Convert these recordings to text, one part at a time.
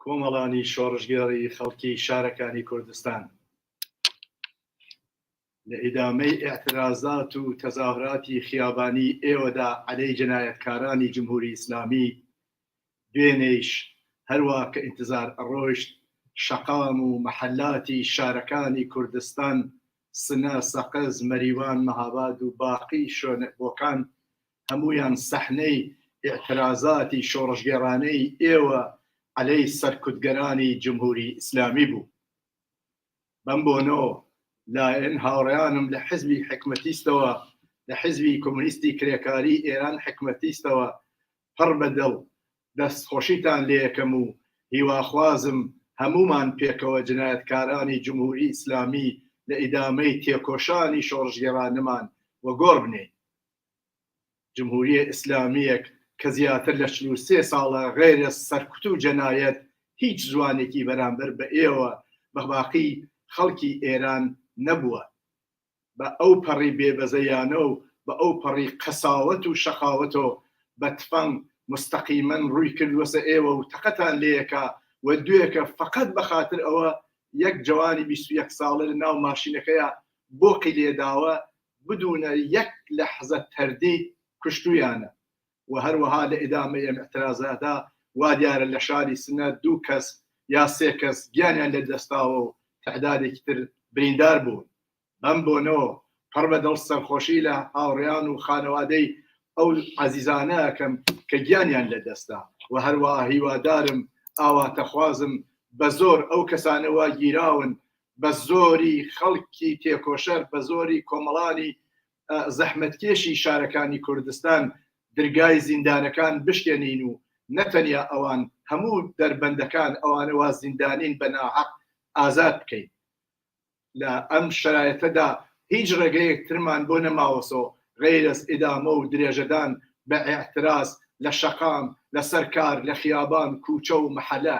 کۆمەڵانی شۆڕشگێڕی خەڵکی شارەکانی کوردستان لە ئیدامەی ئێعترازات و تەزاهراتی خیابانی ئێوەدا عەلەی جەنایەتکارانی جمهوری ئیسلامی دوێنێیش هەروا کە ئینتزار ئەڕۆشت شەقام و مەحەلاتی شارەکانی کوردستان سنە، سەقز، مەریوان، مەهاباد و باقی شۆێن بۆکان هەموویان سەحنەی ئیعترازاتی شۆڕشگێڕانەی ئێوە عەلەی سەرکوتگەرانی جمهوری ئیسلامی بوو. بەم بۆنۆ لایەن هاوڕیانم لە حزبی حکمەتیستەوە لە حزبی کۆمونیستی کرێکاری ئێران حکمەتیستەوە پڕ بە دڵ دەست خۆشیتان لێ یەکەم و هیواخوازم هەمومان پێکەوە جنایەتکارانی جمهوری ئیسلامی لە ئیدامەی تێکۆشانی شۆڕشگێڕانەمان وەگۆڕ بنێین. جمهوریە ئیسلامیەک کە زیاتر لە چل و سێ ساڵە غەیرە سەرکوت و جەنایەت هیچ زوانێکی بەرامبەر بە ئێوە بە باقی خەڵکی ئێران نەبوە بە ئەو پەڕی بێ بەزەیانە و بە ئەو پەڕی قەساوەت و شەقاوەتۆ بە تفەنگ مستەقیمەن ڕوی کردوەسە ئێوە و تەقەتان لێکا و دوێکە فەقەت بە خاتر ئەوە یەک جەوانی بیست و یەک ساڵە لە ناو ماشینەکەیا بۆقی لێداوە بدونە یەک لەحزە تەردی کوشتویانە و هەروەها لە ئیدامەی ئەم ئیعترازەدا وا دیارە لە شاری سنە دوو کەس یا سێ کەس گیانیان لە دەستاوە و تعدادێکی تر بریندار بوون بەم بۆنەوە پڕ بە دڵ سەرخۆشی لە هاوڕیان و خانەوادەی ئەو عزیزانە ئەکەم کە گیانیان لە دەستا و هەروە هیوادارم ئاواتەخوازم بە زۆر ئەو کەسانەوە گیراون بە زۆری خەڵکی تێکۆشەر بە زۆری کۆمەڵانی زەحمەتکێشی شارەکانی کوردستان درگای زیندانەکان بشکێنین و نەتەنیا ئەوان هەموو دەربەندەکان ئەوانەوە زیندانین بە ناحەق ئازاد بکەین لە ئەم شرایەتەدا هیچ ڕێگەیەک ترمان بۆ نەماوەسۆ غیرەس ئیدامە و درێژەدان بە ئاعتراز لە شەقام لەسەر کار لە خیابان کوچە و محەلە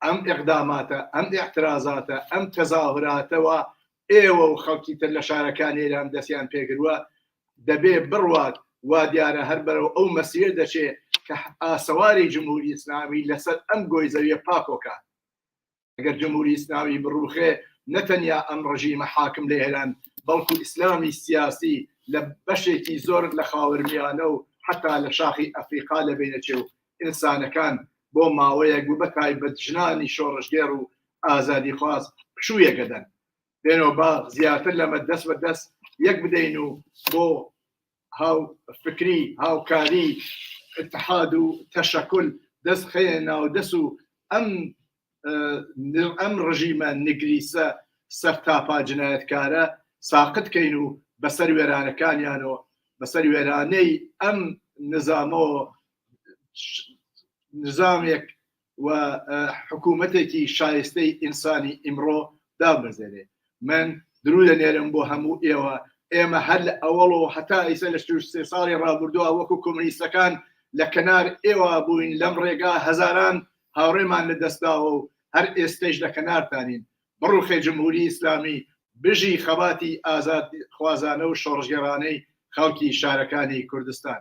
ئەم ئیقداماتە، ئەم ئیعترازاتە، ئەم تەزاهوراتە وا ئێوە و خەڵکی تر لە شارەکانی ئێران دەستیان پێگروە، دەبێ بڕوات وا دیارە هەر بەرەو ئەو مەسیر دەچێ کە ئاسەواری جمهوری ئیسلامی لە سەر ئەم گۆی زەویە پاکۆ کات. ئەگەر جمهوری ئیسلامی بڕوخێ نە تەنیا ئەم ڕژیمە حاکم لە ئێران بەڵکو ئیسلامی سیاسی لە بەشێکی زۆر لە خاوەرمیانە و حەتا لە شاخی ئەفریقا لە بینەچێ و ئینسانەکان بۆ ماوەیەک و بە تایبەت ژنانی شۆڕشگێڕ و ئازادیخواز پشوویەک ئەدەن. بێنەوە با زیاتر لەمە دەست بە دەست یەک بدەین و بۆ هاوفکری، هاوکاری، اتحاد و تشکل دەست بخەینە ناو دەست و ئەم ئەم ڕژیمە نگریسە سەرتاپا جنایەتکارە ساقت بکەین و بەسەر وێرانەکانیان و بەسەر وێرانەی ئەم نزامەوە نظامێک و حکوومەتێکی شایستەی ئینسانی ئیمڕۆ دابەزێنێ من درو دەنێرم بۆ هەموو ئێوە ئێمە هەر لە ئەوەڵ و هەتا ئیسە لە سێ ساڵی ڕابردووە وەکو کۆمنیستەکان لە کەنار ئێوە بووین لەم ڕێگا هەزاران هاوڕێمان لە دەستداوە و هەر ئێستش لە کەنارتانین بڕوخێ جمهوری ئیسلامی، بژی خەباتی ئازادیخوازانە و شۆڕشگێڕانەی خەڵکی شارەکانی کوردستان.